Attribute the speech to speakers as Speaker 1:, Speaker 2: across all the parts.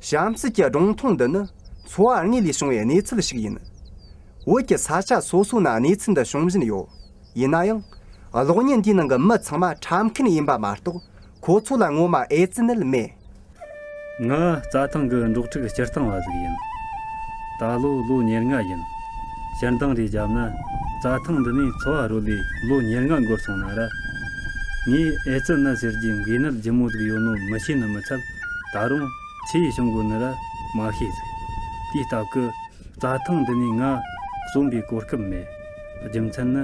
Speaker 1: གཤམ་གསལ་གྱི་སྒྲུང་ཐུང་འདི་ནི་འཚོ་བ་དངོས་ལས་བྱུང་བའི་གནས་ཚུལ་ཞིག་ཡིན། བོད་ཀྱི་ས་ཆ་སོ་སོ་ན་གནས་ཚུལ་འདི་བྱུང་བཞིན་ཡོད། ཡིན་ན་ཡང། གློག་བརྙན་འདིའི་ནང་གི་མི་ཚང་མ་ཁྲམ་མཁན་ཡིན་པ་མ་གཏོགས་ཁོ་ཚོ་ལ་ངོ་མ་ཨེ་ཙི་ནད་མེད། ང་རྩྭ་ཐང་གི་འབྲོག་ཕྲུག་སྤྱིར་བཏང་བ་ཞིག་ཡིན། ད་ལོ་
Speaker 2: ལོ་ཉེར་ལྔ་ཡིན། སྤྱན་དྲང་རེ་བརྒྱབ་ན། རྩྭ་ཐང་འདི་ནས་འཚོ་བ་རོལ་བའི་ལོ་ཉེར་ལྔ་འགོར་སོང་ན་ར། ངས་ཨེ་ཙི་ནད་ཟེར་གྱི་འགོས་ནད་ལྗིད་མོ་ཟིག་ཡོད་ནོ་མི་ཤེས་ནི་མི་འཚལ། ད་རུང། ཕྱི་ཡི་བྱུང་དགོས་ནི་ར། མ་ཤེས་ཟིག། དུས་རྟག་གི། རྩྭ་ཐང་འདི་ནས་ང། གསོན་པའི་གོ་སྐབས་མེད། རྒྱུ་མཚན་ནི།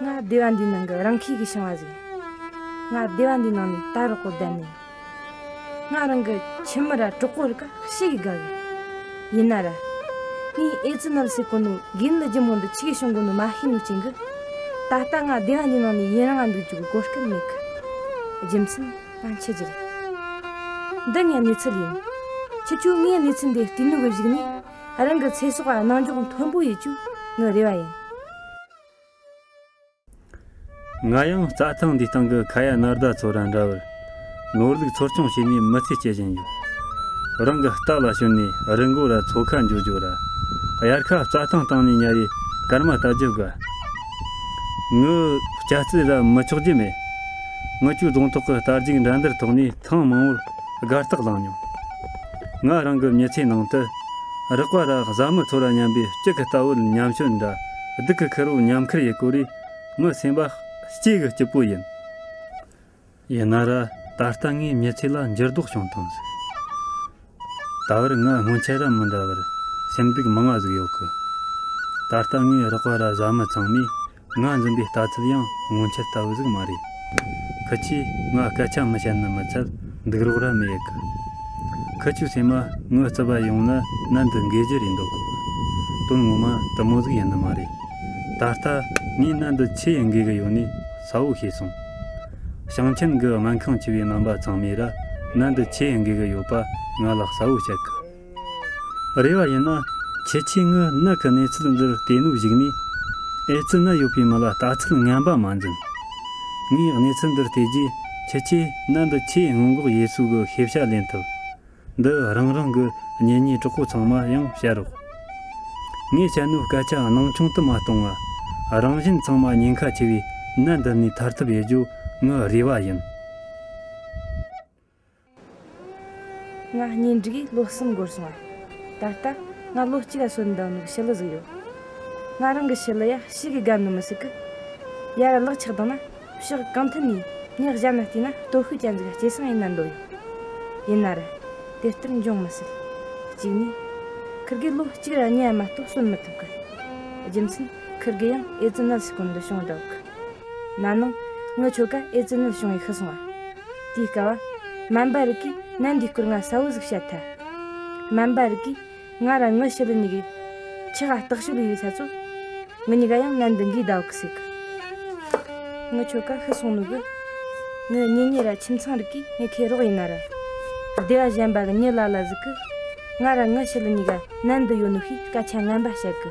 Speaker 3: ང་སྡེ་བ་འདིའི་ནང་གི་རང་ཁྱིས་ཀྱི་ཞིང་བ་ཟིག་ང་སྡེ་བ་འདིའི་ནང་ནས་ད་རོག་གོ་བསྡད་ནས་ང་རང་གི་ཁྱིམ་མི་ར་གྲོགས་པོ་རི་ཀ་ཤི་གི་དགའ་གི་ཡིན་ན་ར་ངའི་ཨེ་ཙི་ནད་སེལ་གོ་ནུ་རྒན་ལི་རྒྱུ་མོ་འདི་ཁྱི་གི་ཤོང་གོ་ནུ་མ་ཤི་ནུ་ཅན་གི་ད་ལྟ་ང་སྡེ་བ་འདིའི་ནང་ནས་ཡིན་རང་འདུག་རྒྱུ་གི་གོ་སྐལ་མེད་གི་རྒྱུ་མཚན་ང་འཆི་རྒྱུ་རེད་འདི་ངའི་གནས་ཚུལ་ཡིན་ཁྱི་ཁྱོད་ངའི་གནས་ཚུལ་འདི་བལྟས་ནུ་གི་གཞིགས་ནས་རང་གི་ཚེ་སྲོག་གནང་འཇོག་མཐོན་པོ་ཡོད་ཅུག་ངའི་རེ་བ་ཡིན།
Speaker 2: ང་ཡང་རྩྭ་ཐང་འདིའི་སྟེང་གི་ཁ་ཡ་ནར་ཟླ་ཚོ་དང་འདྲ་བར་ནོར་ལུག་འཚོ་སྐྱོང་བྱས་ནས་མི་ཚེ་སྐྱེལ་བཞིན་ཡོད། རང་གི་སྟག་ལ་ཞོན་ནས་རི་མགོ་ར་མཚོ་ཁ་འཇོག་རྒྱུ་ར་གཡར་ཁ་རྩྭ་ཐང་སྟེང་ནས་ཉལ་བའི་སྐར་མ་ལྟ་རྒྱུ་དགའ། ངའི་སྐྱ་རྩི་ར་མི་ཆོག་རྒྱུ་མེད། ངི་ཆུ་རྫོང་ཐོག་གི་རྟ་རྒྱུག་འགྲན་བསྡུར་ཐོག་ནས། ཐེངས་མང་བོར་སྒར་རྟགས་བླངས་མྱོང། ང་རང་གི་མྱི་ཚེའི་ནང་དུ། རགས་པ་ར་བཟའ་མི་ཚོ་ལ་ཉམས་པའི་གཅིག་གི་ལྟ་བུར་ཉམས་ཞོར་འདྲ་སྡུག་གི་ཁེར་བོ་ཉམས་ཁེར་ཡི་གོ་རེ་མི་སེམས་པ་སྐྱེ་གི་སྐྱིད་པོ་ཡིན། ཡིན་ན་ར་ད་ལྟ་ངའི་མྱི་ཚེ་ལ་འགྱུར་ལྡོག་བྱུང་སྟངས་ཟིག་ད་བར་ང་སྔོན་ཆད་ར་མི་འདྲ་བར་སེམས་སྡུག་མང་བ་ཟིག་ཡོད་གི། ད་ལྟ་ངའི་རགས་པ་ར་བཟའ་མི་ཚང་མས་ང་འཛིན་པའི་ལྟ་ཚུལ་ཡང་སྔོན་ཆད་ལྟ་བུ་ཟིག་མ་རེད། ཁུ་ཆུས་ང་སྐད་ཆ་མི་བཤད་ན་མི་ཚད་འདུག་རོགས་ར་མི་ཡི་གི། ཁུ་ཆུས་སེམས་མ་ངུ་རྩི་བ་ཡོང་ན་གནད་འདི་འགེལ་རྒྱུ་རེད་འདོད་གོ། དོན་ངོ་མ་དུ་མོ་ཟིག་ཡིན་ནི་མ་རེད། ད་ལྟ་ངས་གནད་འདི་ཆི་ཡིས་འགེལ་གི་ཡོད་ནི་ས་བོ་ཤེས་སོང། ཞིང་ཆེན་གི་སྨན་ཁང་བྱིས་པའི་སྨན་པ་ཚང་མས་ར་གནད་འདི་ཆི་ཡིས་འགེལ་གི་ཡོད་པ་ང་ལ་གསལ་བོ་བཤད་གི། རེ་བ་ཡིན་ན། ཁྱེད་ཆེས་ངུ་ནག་གི་གནས་ཚུལ་འདིར་བལྟས་ནུབ་གཞིགས་ནས། ཨེ་ཙི་ནད་ཡོད་པའི་མི་ལ་ལྟ་ཚུལ་ངན་པ་མ་འཛིན། ངས་གནས་ཚུལ་འདིར་བལྟས་རྗེས་ཁྱེད་ཆེས་ནད་འདི་ཆེས་སྔོན་འགོག་ཡས་སུ་གི་ཤེས་བྱ་ལེན་ཐུབ། འདི་རང་རང་གི་གཉེན་ཉེ་གྲོགས་པོ་ཚང་མ་ཡང་བཤད་རོགས། ངས་བྱ་སྣོད་སྐད་ཆ་སྣང་ཆུང་དུ་མ་གཏོང་བ། རང་བཞིན་ཚང་མ་ཉེན་ཁ་ཆེ་བའི་ནད་འདི་ནས་ཐར་ཐབས་ཡེ་རྒྱོ་ངི་རེ་བ་ཡིན།
Speaker 3: ང་གཉེན་སྒྲིག་གིས་ལོ་གསུམ་འགོར་སོང་བ། ད་ལྟ་ང་ལོ་གཅིག་ལ་སོན་འདང་ནུག་ཕྱི་ལུ་ཟུག་ཡོད། ང་རང་གི་ཕྱི་ལུ་ཡ་ཕྱི་གི་སྒམ་ནི་མི་སྲིད་གི། ཡར་གླག་ཆགས་དང་ན་ཕྱག་གང་མཐུན་ནས་ཉག་གཞབ་ན་བལྟས་ན་སྟོད་ཤུལ་གྱ་འཛིག་སྐྱེ་སངས་ཡིན་ན་འདོད་ཡོད། ཡིན་ན་རེད་དེ་ལྟར་འབྱུང་མི་སྲིད། གཅིག་ནས། ཁིར་དགེ་ལོ་གཅིག་ར་གཉའ་མ་གཏོགས་སོན་མི་ཐུབ་གི། རྒྱུ་མཚན་ཁིར་དགེ་ཡང་ཨེ་ཙི་ནད་སྲི་ཀུན་འདི་བྱུང་བདག་གི། ན་ནིང་ངའི་ཁྱོ་ག་ཨེ་ཙི་ནད་བྱུང་བས་ཤི་སོང་བ། དེའི་སྐལ་བ། སྨན་པ་རིགས་ཀྱིས་ནད་འདིའི་སྐོར་ང་གསལ་བོ་ཟིག་བཤད་ཐལ། སྨན་པ་རིགས་ཀྱིས་ང་རང་ངའི་ཕྱི་ལུས་གཉིས་ཀའི་ཁྱི་ཧ་ལྟག་ཤུ་ལུ་ཡོད་ས་ཚོ། ངའི་གཉིས་ཀ་ཡང་ནད་འདི་འགའི་ཟླ་བ་ཁུ་སིག་གི། ངའི་ཁྱོ་ག་ཤི་སོང་ནུས་གི། ངའི་གཉེན་ཉེ་ར་ཁྱིམ་ཚང་རིགས་ཀྱིས་ངའི་ཁའི་རོགས་ཡིན་ན་ར། སྡེ་བ་གཞན་པ་གི་གཉིད་ལ་ལ་ཟིག་གི། ང་རང་ངའི་ཕྱི་ལུས་གཉིས་ཀ་ནད་འདི་ཡོད་ནུས་ཤེས་སྐད་ཆ་ངན་པ་བཤད་གི།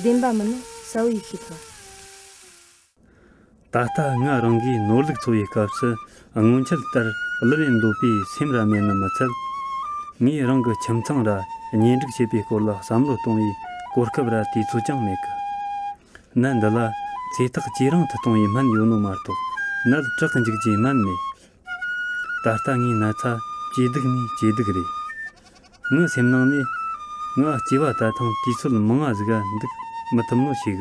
Speaker 3: བདེན་པ་མིན་ནོ་གསལ་བོ་ཡིད་ཆེས་ཐོབ།
Speaker 2: ད་ལྟ་ང་རང་གིས་ནོར་ལུག་འཚོ་བའི་སྐབས་སུ་སྔོན་ཆད་ལྟར་གླུ་ལེན་འདོད་པའི་སེམས་ར་མེད་ནི་མི་འཚལ། ངས་རང་གི་ཁྱིམ་ཚང་ར་གཉེན་སྒྲིག་བྱེད་པའི་སྐོར་ལ་བསམ་བློ་གཏོང་བའི་གོ་སྐབས་ར་དུས་ཚོད་ཀྱང་མེད། གནད་འདི་ལ་ཚེ་ཐག་ཇེ་རིང་དུ་གཏོང་བའི་སྨན་ཡོད་ནོ་མ་གཏོགས་ནད་དྲག་འཇིག་རྒྱུའི་སྨན་མེད། ད་ལྟ་ངའི་ན་ཚ་ཇེ་སྡུག་ནས་ཇེ་སྡུག་རེད། ངའི་སེམས་ནང་ནས། ང་སྐྱེས་པ་ད་ཐེངས་དུས་ཚོད་མང་ང་ཟིག་འདུག་མི་ཐུབ་ནོ་ཞིག་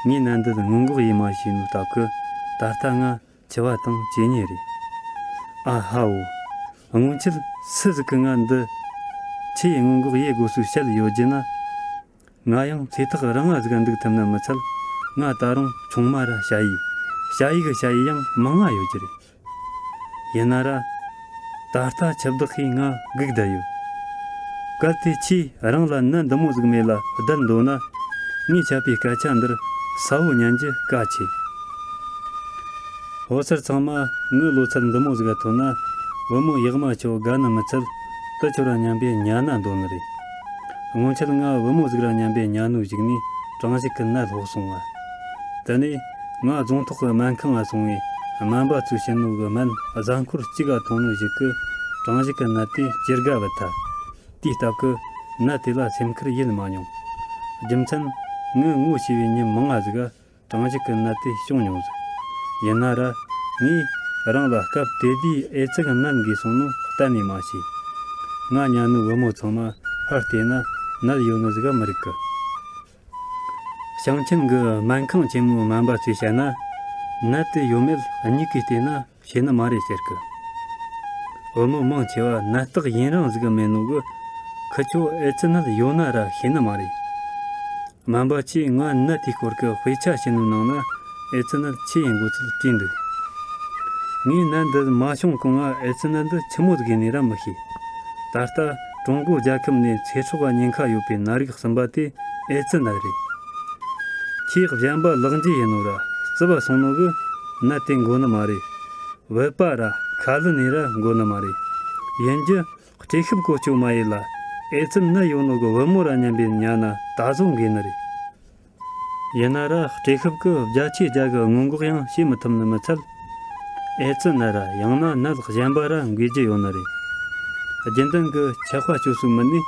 Speaker 2: གི། ངས་ནད་འདི་སྔོན་འགོག་ཡེ་མ་བྱས་ནོ་ལྟ་གི། ད་ལྟ་ང་འཆི་བ་དང་བཅས་ཉེ་རེད། ཨ་ཧའོ། སྔོན་ཆད་སུ་ཟིག་གི་ནད་འདི་ཆི་ཡི་སྔོན་འགོག་ཡེ་དགོས་ཟུག་བཤད་ཡོད་རྒྱུ་ན། ང་ཡང་ཚེ་ཐག་རིང་བ་ཟིག་འདུག་ཐུབ་ན་མི་ཚད་ང་ད་རུང་ཆུང་མ་ར་བྱ་ཡི་བྱ་ཡི་གི་བྱ་ཡི་ཡང་མི་མངའ་ཡོད་ཀྱི་རེད་ཡིན་ན་ར་ད་ལྟ་ཁྱི་བདག་གིས་ང་སྒུག་བསྡད་ཡོད་སྐབས་དེ་ཁྱི་རང་ལ་ནད་འདི་མོ་ཟིག་མེ་ལ་བསྡད་འདོད་ན་ངས་ཁྱབ་པའི་སྐད་ཆ་འདིར་ས་བོ་ཉན་རྒྱུ་དཀའ་ཆེ་བོ་སར་ཚང་མ་ངའི་ལོ་ཚད་འདི་མོ་ཟིག་ཐོན་ན་བུ་མོ་ཡག་མ་ཆོ་ག་ནི་མི་ཚད་དུ་འཆོར་བ་ཉན་པའི་ཉན་ན་འདོད་ནི་རེད། སྔོན་ཆད་ང་བུ་མོ་གཟུགས་ར་ཉམས་པའི་གཉའ་ནུ་ཞིག་ནས་གྲང་ཞིག་གིས་ནད་ལྷོག་སོང་བ། དེ་ནས་ང་རྫོང་ཐོག་གི་སྨན་ཁང་ལ་སོང་བས་སྨན་པ་ཚོས་ཕྱི་ནུ་གི་སྨན་གཟའ་འཁོར་གཅིག་ག་དུང་ནུ་ཞིག་གི་གྲང་ཞིག་གི་ནད་དེ་ཇི་དགའ་བས་ཐལ། དུས་སྟབས་ཀྱིས་ནད་དེ་ལ་སེམས་ཁུར་ཡེད་མ་མྱོང། རྒྱུ་མཚན། ངའི་ངོ་ཤེས་པའི་ཉིན་མང་ང་གཟུགས། གྲངས་གཅིག་གི་ནད་དེ་བྱུང་མྱོང་ཟིག། ཡིན་ན་ར། ངས་རང་ལ་སྐབས་དེ་དུས་ཨེ་ཙི་གི་ནད་འགོས་སོང་ནོ་གཏན་ནས་མ་བྱས། ང་གཉའ་ནུའི་བུ་མོ་ཚང་མ་ཕར་བལྟས་ན་ནད་ཡོད་ནོ་ཟིག་ག་མི་རིག་གི། ཞིང་ཆེན་གྱི་སྨན་ཁང་ཆེན་མོའི་སྨན་པ་ཚོས་བཤད་ན། ནད་དེ་ཡོད་མེད་སྙིགས་ཀྱིས་བལྟས་ན་བྱས་ན་མ་རེད་ཟེར་གི། བོད་མི་མང་ཆེ་བ་ནད་རྟགས་ཡིན་རང་གཟིགས་མེད་ནོ་གི། ཁི་ཁྱོ་ཨེ་ཙི་ནད་ཡོད་ན་ར་ཤེས་ནི་མ་རེད། སྨན་པ་ཁྱོས་ང་ནད་དེའི་སྐོར་གི་དཔེ་ཆ་ཞིག་ནུབ་གནང་ན་ཨེ་ཙི་ནད་ཆི་ཡིན་དགོས་ཚུལ་བྲིས་འདུག། ངས་ནད་འདི་མ་བྱུང་གོང་ང་ཨེ་ཙི་ནད་འདི་ཁྱི་མོ་དགོས་ནི་ར་མི་ཤེས། ད་ལྟ་ཀྲུང་གོ་རྒྱལ་ཁབ་ནས་ཚེ་སྲོག་ཉེན་ཁ་ཡོད་པའི་ནད་རིགས་གསུམ་པ་དེ་ཨེ་ཙི་ནད་རེད། ཁྱེད་གཞན་པ་ལག་འཇུ་ཡིན་ནོ་ར་རྩི་བ་སོང་ནོ་གི་ན་དེ་འགོ་ནི་མ་རེད། བོད་པ་ར་ཁ་ལི་ནི་ར་འགོ་ནི་མ་རེད། ཡིན་རྒྱུ་སྤྲེ་ཤུབ་གོ་ཅོ་མ་ཡི་ལ་ཨེ་ཙི་ནི་ཡོ་ནོ་གི་བུ་མོ་ར་སྙམ་པའི་ཉ་ན་ད་བཟོ་འགེ་ནི་རེད། ཡིན་ན་ར་སྤྲེ་ཤུབ་གི་བརྒྱ་ཆའི་བརྒྱ་གི་སྔོན་འགོག་ཡང་བྱེད་མི་ཐུབ་ནི་མི་ཚད། ཨེ་ཙི་ནི་ར་ཡང་ན་ནད་གཞན་པ་ར་འགོས་རྒྱུ་ཡོ་ནི་རེད། རྒྱུན་ལྡན་གི་ཆད་པ་བཅོ་སུ་མི་ནུས།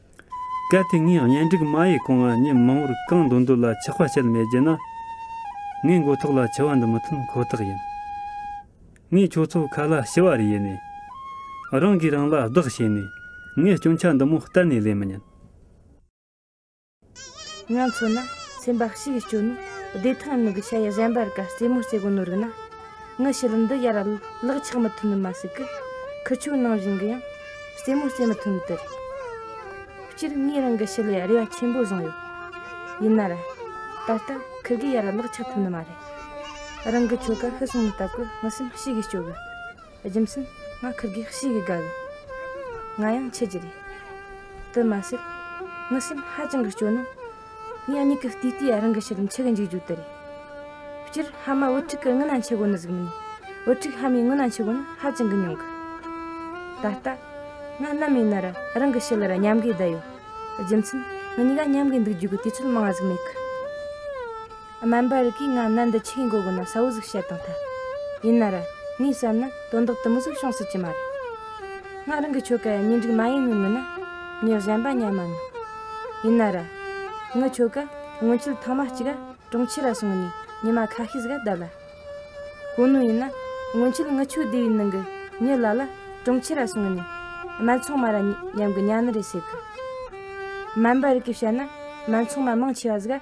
Speaker 2: གལ་ཏེ་ངས་གཉེན་སྒྲིག་མ་ཡི་རྐང་བ་ཉིན་མང་བོར་རྐང་འདོན་དུ་ལ་ཆག་པ་བྱེད་མེད་ཀྱི་ན། ངའི་མགོ་ཐོག་ལ་ཆུ་བ་འདི་མི་ཐོན་ཁོ་ཐག་ཡིན། ངས་ཁྱོད་ཚོ་ཁ་ལ་ཞི་བར་ཡེ་ནས། རང་གིས་རང་ལ་བདག་བྱས་ནས་ངའི་སྐྱོན་ཆ་འདི་མོ་གཏན་ནས་ལེན་མི་ཉན།
Speaker 3: ང་མཚོ་ན་སེམས་པ་གཤིས་ཀྱི་སྐྱོན་ནི་བདེ་ཐང་མིག་གི་ཆ་ཡི་གཞན་པར་ག་རྩེ་མོ་རྩེ་གོ་ནོར་གི་ན། ངའི་ཕྱི་ལུས་འདི་ཡར་ལག་ཆགས་མི་ཐུབ་ནི་མ་ཟིག་གི། ཁུ་ཆུ་ནང་བཞིན་གི་ཡང་རྩེད་མོ་རྩེད་མི་ཐུབ་ནི་དེ་རེད། སྤྱིར་ངའི་རང་གི་ཕྱི་ལས་རེ་བ་ཆེན་པོ་བཟུང་ཡོད། ཡིན་ནའ་ར། ད་ལྟ་ཁིར་གིས་ཡར་ལག་ཆགས་ཐུབ་ནི་མ་རེད། རང་གི་ཁྱོ་ག་ཤི་སོང་མི་ལྟ་གི་ངའི་སེམས་གཤིས་ཀྱི་སྐྱོ་གི། རྒྱུ་མཚན་ང་ཁིར་གིས་གཤིས་ཀྱི་དགའ་གི། ང་ཡང་ཁྱེད་ཀྱི་རེད། དེ་མ་ཟད། ངའི་སེམས་ཧ་ཅང་གི་སྐྱོ་ནི། ངས་གཉིད་ཀྱི་ལྟུས་ལྟོས་རང་གི་ཕྱི་རིམ་ཆུ་གི་འཇུག་རྒྱུ་དེ་རེད། སྤྱིར་ཧ་མ་བུ་ཕྲུག་གི་སྔུན་ན་འཆི་སྒོ་ནི་གཟུགས་མིན། བུ་ཕྲུག་ཧ་མའི་སྔུན་ན་འཆི་སྒོ་ནི་ཧ་ཅང་གི་ཉུང་གི། ད་ལྟ། ང་གནའ་མའི་ནི་རུ་རང་གི་ཕྱི་ལར་ཉམས་དགའི་བསྡད་ཡོད། རྒྱུ་མཚན། ང་གཉིས་ཀ་ཉམས་དགའི་འདུག་རྒྱུ་གི་དུས་ཚོད་མང་བ་ཟིག་མེད་གི། སྨན་པ་རི་གས་ང་ནད་འདི་ཆིག་ཡིན་གོ་དགོས་ན་གསལ་བོ་ཟིག་བཤད་དང་ཐལ། ཡིན་ན་ར། ངས་བསམ་ན་དོན་དག་དུམ་བུ་ཟིག་བྱུང་སྲིད་ཀྱི་མ་རེད། ང་རང་གི་ཁྱོ་ག་ཡང་གཉེན་སྒྲིག་མ་ཡིན་ནོ་མིན་ན། གཉེར་གཞན་པ་གཉེར་མ་མིན། ཡིན་ན་ར། ངའི་ཁྱོ་ག་སྔོན་ཆད་ཐང་མ་གཅིག་ག་གྲོང་ཁྱེར་ར་སོང་ནས་ཉི་མ་ཁ་ཤས་ཟིག་ག་བསྡད་ལ། གོ་ནོ་ཡིན་ན་སྔོན་ཆད་ངའི་ཁྱོ་སྡེ་བའི་ནང་གི་མྱི་ལ་ལ་གྲོང་ཁྱེར་ར་སོང་ནས་སྨན་ཚོང་མ་ར་ཉམས་གི་གཉའ་ནི་རེ་བྱེད་གི། སྨན་པ་རི་གས་བཤད་ན་སྨན་ཚོང་མ་མང་ཆེ་བ་ཟིག་ག་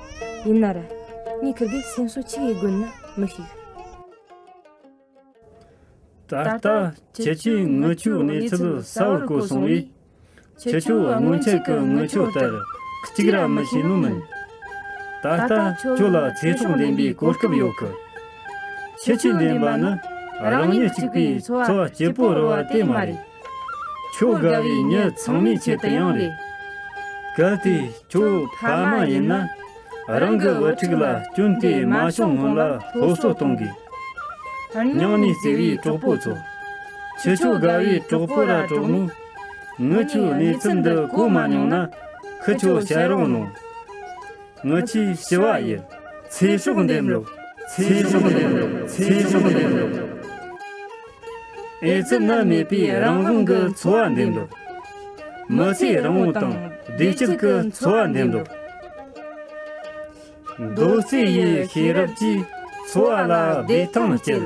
Speaker 3: ཡིན་ན་ར། གཉིས་ཁུར་གི་སེམས་གསོ་ཆི་ཡི་དགོན་ན་མི་ཞིག།
Speaker 2: ད་ལྟ་ཁྱེད་ཀྱིས་དངུལ་ཆུའི་གནས་ཚུལ་གསལ་བོར་གོ་སོང་བས། ཁྱེད་ཆུ་བོ་སྔོན་ཆད་ཀྱི་དངུལ་ཆུ་ལྟར་གཅིག་ར་མི་བྱེད་ནུས་མིན། ད་ལྟ་ཁྱོད་ལ་ཚེ་སྲོག་འདྲེན་པའི་གོ་སྐབས་ཡོད་གི། ཁྱེད་ཆུ་འདྲེན་པ་ནི་རང་ཉིད་གཅིག་པུའི་འཚོ་བ་སྐྱིད་པོ་རོལ་བ་དེ་མ་རེད། ཁྱོད་དགའ་བའི་མྱི་ཚང་མའི་ཆེད་དུ་ཡང་རེད། གལ་ཏེ་ཁྱོད་ཕ་མ་ཡིན་ན་རང་གི་བུ་ཕྲུག་ལ་སྐྱོན་དེ་མ་བྱུང་སྔོན་ལ་སློབ་གསོ་གཏོང་དགོས། སྙིང་ནས་བརྩེ་བའི་གྲོགས་པོ་ཚོ། ཁྱི་ཁྱོད་དགའ་བའི་གྲོགས་པོ་ར་གྲོགས་མོ། ངི་ཁྱོས་གནས་ཚུལ་འདི་གོ་མ་མྱོང་ན་ཁི་ཁྱོ་བཤད་རོགས་གནོང། ངི་ཁྱི་ཞི་བ་ཡི། ཚེ་སྲོག་འདེམས་རོགས། ཚེ་སྲོག་འདེམས་རོགས། ཚེ་སྲོག་འདེམས་རོགས། ཨེ་ཙི་ནད་མེད་པའི་རང་དབང་གི་འཚོ་བ་འདེམས་སྒྲུག། མི་ཚེའི་རིང་བོ་དང་བདེ་སྐྱིད་ཀྱི་འཚོ་བ་འདེམས་སྒྲུག། རྡོ་རྩིག་ཡི་ཤེས་རབ་ཀྱིས་འཚོ་བ་ལ་བདེ་ཐང་བསྐྱལ།